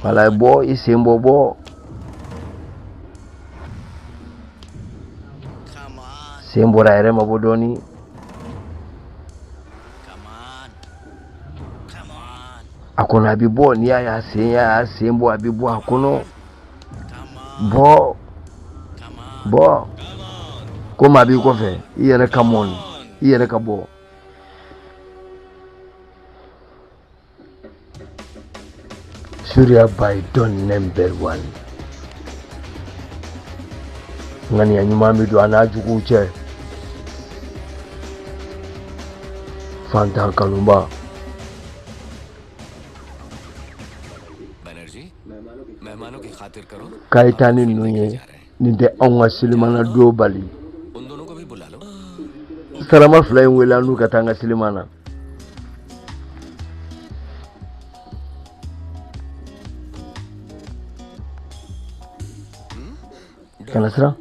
wala bɔ i sen bɔ bɔ sen bɔra a yɛrɛ ma bɔ dɔɔni a kɔnɔ a bɛ bɔ n'i y'a y'a sen y'a sen bɔ a bɛ bɔ a kɔnɔ bɔ bɔ komi a b'i kɔfɛ i yɛrɛ ka mɔni i yɛrɛ ka bɔ Surya Bhai don number one ŋaniya ɲuman bɛ don a n'a juguw cɛ fantan kanuba kayitani ninnu ye nin tɛ anw ka selimana don bali sarama fila in wele an n'u ka taa an ka seliman na kana siran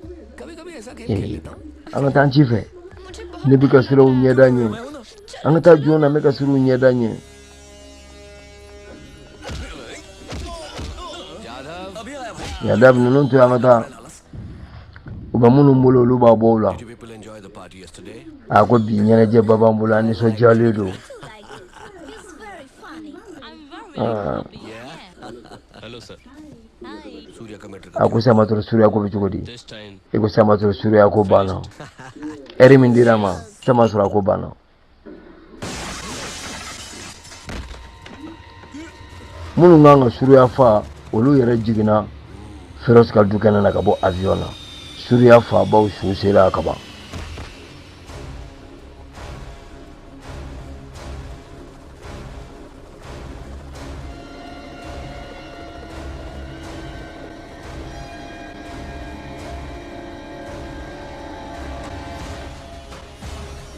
an ka taa an ci fɛ ne bɛ ka siraw ɲɛda ɲɛ an ka taa jɔn na n bɛ ka siraw ɲɛda ɲɛ Yadav ninnu to an ka taa u bɛ minnu bolo olu b'a bɔ o la a ko bi ɲɛnajɛba b'an bolo an nisɔndiyalen don a ko samatoro Surya ko bɛ cogo di i ko samatoro Surya ko banna lɛri min dira a ma sama sɔrɔ a ko banna minnu kan ka Surya fa olu yɛrɛ jiginna Feroz ka du kɛnɛ na ka bɔ avion na Surya fabaw su sera ka ban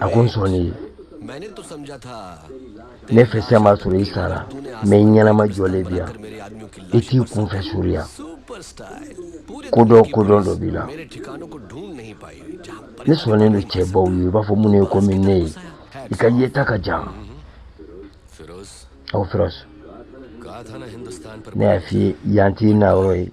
a ko n sɔnna i ye ne fɛ sisan b'a sɔrɔ i sara mɛ i ɲɛnama jɔlen bɛ yan i t'i kunfɛ Surya kodɔn kodɔn dɔ b'i la ne sɔnnen don cɛbaw ye i b'a fɔ minnu ye komi ne ye i ka yeta ka jan aw Feroz ne y'a f'i ye yan t'i na yɔrɔ ye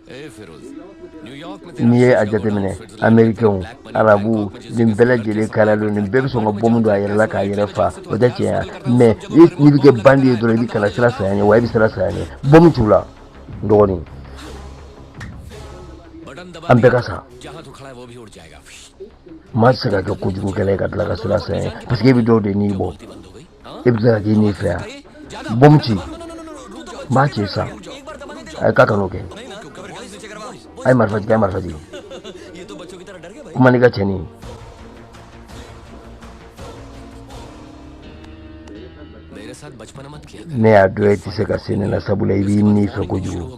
n'i ye a jateminɛ amerikɛnw arabuw nin bɛɛ lajɛlen kala don nin bɛɛ bɛ sɔn ka bɔmu don a yɛrɛ la k'a yɛrɛ fa o tɛ tiɲɛ ye mɛ n'i bɛ kɛ bandi ye dɔrɔn i bɛ ka na siran saya ɲɛ wa i bɛ siran saya ɲɛ bɔmu t'u la n dɔgɔnin an bɛɛ ka sa maa tɛ se ka kɛ kojugukɛla ye ka tila ka siran saya ɲɛ paseke e bɛ dɔw de ni bɔ e bɛ ka k'i ne fɛ yan bɔmu ci n b'a ci sa a ye k'a kan'o kɛ a ye marifa jigin a ye marifa jigin kuma n'i ka cɛnin ye ne y'a dɔn e tɛ se ka se ne la sabula i b'i ni fɛ kojugu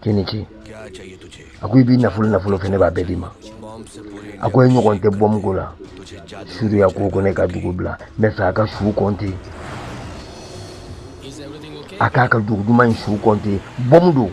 k'i ni ce a ko i bɛ nafolo nafolo fɛ ne b'a bɛɛ d'i ma a ko e ɲɔgɔn tɛ bɔmu ko la suruya ko ko ne ka dugu bila n b'a fɛ a ka su kɔnte a k'a ka dugu duman in su kɔnte bɔmu don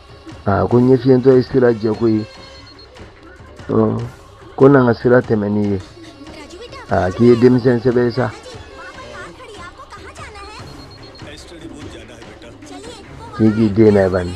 aa ko ɲɛfiyentɔ ye sira jɛko ye ko na n ka sira tɛmɛ n'i ye aa k'i ye denmisɛn sɛbɛ ye sa k'i k'i den na ye bani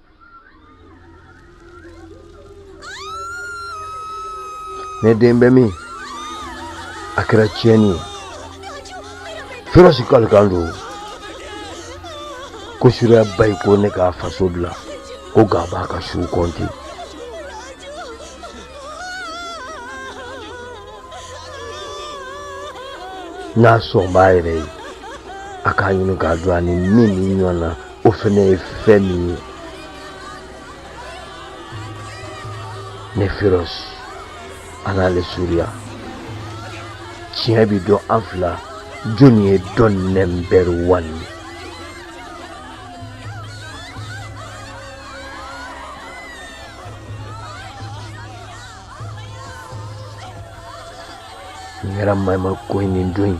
ne den bɛ min a kɛra tiɲɛni ye feroz kalikan don ko suruya ba ye ko ne ka faso bila ko k'a b'a ka su kɔnte n'a sɔn b'a yɛrɛ ye a k'a ɲini k'a dɔn a ni min ni ɲɔgɔn na o fɛnɛ ye fɛn min ye ne feroz ani ale suruya tiɲɛ bɛ dɔn an fila jɔnni ye don number one ye n kɛra mayima ko in nin don in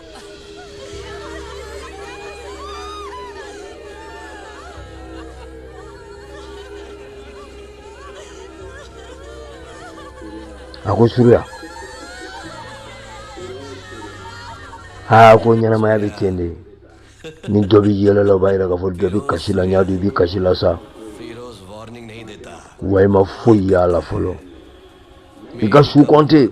a ko suruya aa ko ɲɛnamaya bɛ ten de ni dɔ bɛ yɛlɛ la o b'a yira k'a fɔ dɔ bɛ kasi la n y'a dɔn i bɛ kasi la sa wa i ma foyi y'a la fɔlɔ i ka su kɔnte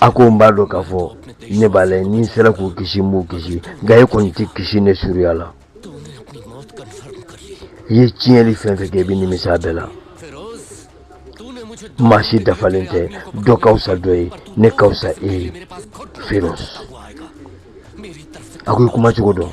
a ko n b'a dɔn k'a fɔ ne b'a lajɛ ni n sera k'u kisi n b'u kisi nka e kɔni tɛ kisi ne suruya la i ye tiɲɛli fɛn fɛn kɛ i bɛ nimisa bɛɛ la maa si dafalen tɛ dɔ ka fisa dɔ ye ne ka fisa e ye feroz a ko i kuma cogo dɔn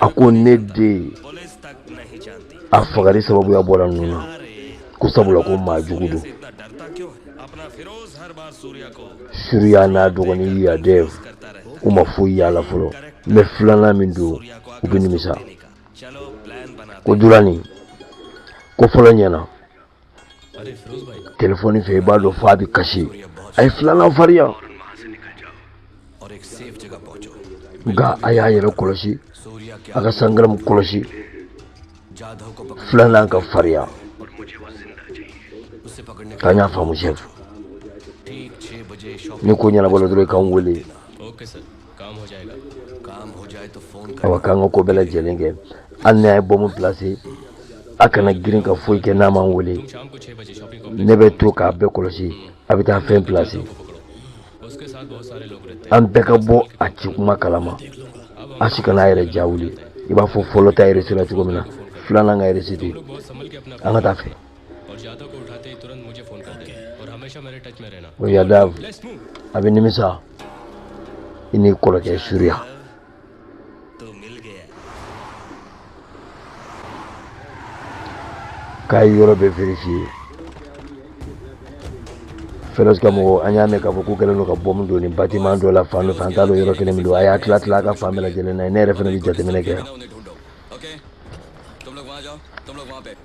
a ko ne den a fagali sababuya bɔra ninnu na ko sabula ko maa jugu don suriya n'a dɔgɔnin yadev u ma foyi y'a la fɔlɔ mɛ filanan min don u bɛ nimisa ko durani ko fɔlɔ ɲɛna telefɔni fɛ i b'a dɔn f'a bɛ kasi a ye filanan farinya nka a y'a yɛrɛ kɔlɔsi a ka sangaramu kɔlɔsi filanan ka farinya k'an y'a faamu sɛfu ni ko ɲɛnabɔla dɔrɔn i k'an wele awa k'an ka ko bɛɛ lajɛlen kɛ hali n'a ye bɔmu plase a kana girin ka foyi kɛ n'a ma n wele ne bɛ to k'a bɛɛ kɔlɔsi a bɛ taa fɛn plase an bɛɛ ka bɔ a ci kuma kalama a si kana a yɛrɛ ja wuli i b'a fɔ fɔlɔ ta réussila cogo min na filanan ka réussi ten an ka taa fɛ o yadev a bɛ nimisa i n'i kɔrɔkɛ suriya k'a ye yɔrɔ bɛɛ vérifier fɛrɛs ka mɔgɔ an y'a mɛn k'a fɔ k'u kɛlen don ka bɔmu don nin batiman dɔ la fan dɔ fɛ an t'a dɔn yɔrɔ kelen min don a y'a tila tila a ka fan bɛɛ lajɛlen lajɛ ne yɛrɛ fana bɛ jateminɛ kɛ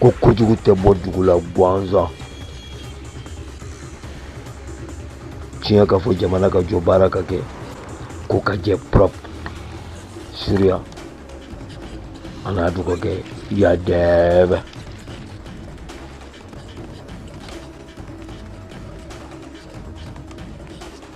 ko kojugu tɛ bɔ dugu la gansan tiɲɛ ka fɔ jamana ka jɔ baara ka kɛ ko ka jɛ prop suriya an'a dɔgɔkɛ yadev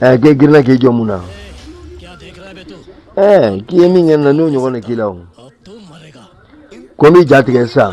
ɛ k'e girinna k'i jɔ mun na ɛ k'i ye min kɛ n na n'o ɲɔgɔn de k'i la o ko n b'i ja tigɛ sisan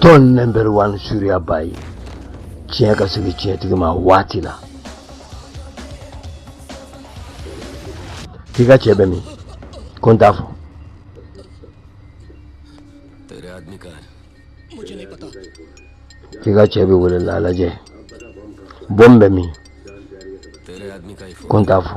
Don number one suriya bayi tiɲɛ ka segin tiɲɛtigi ma waati la k'i ka cɛ bɛ min ko n t'a fɔ k'i ka cɛ bɛ wele la lajɛ bɔmu bɛ min ko n t'a fɔ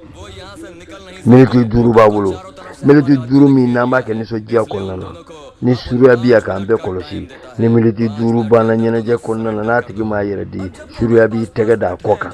miniti duuru b'a bolo miniti duuru min n'an b'a kɛ nisɔndiya kɔnɔna na ni suruya bɛ yan k'an bɛɛ kɔlɔsi ni miniti duuru banna ɲɛnajɛ kɔnɔna na n'a tigi m'a yɛrɛ di suruya b'i tɛgɛ d'a kɔ kan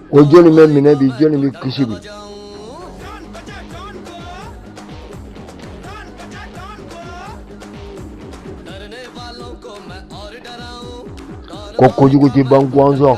Ko jɔni bɛ minɛ bi jɔni bɛ kisi bi ko kojugu tɛ ban gwansan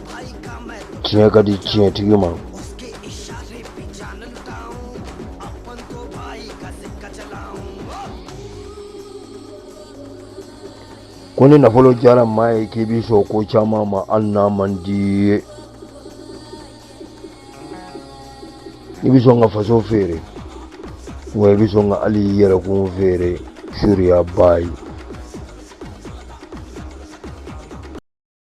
tiɲɛ ka di tiɲɛtigi ma ko ni nafolo diyara maa ye k'i bɛ sɔn ko caman ma hali n'a man d'i ye i bɛ sɔn ka faso feere wa i bɛ sɔn ka hali i yɛrɛkun feere suruyaba ye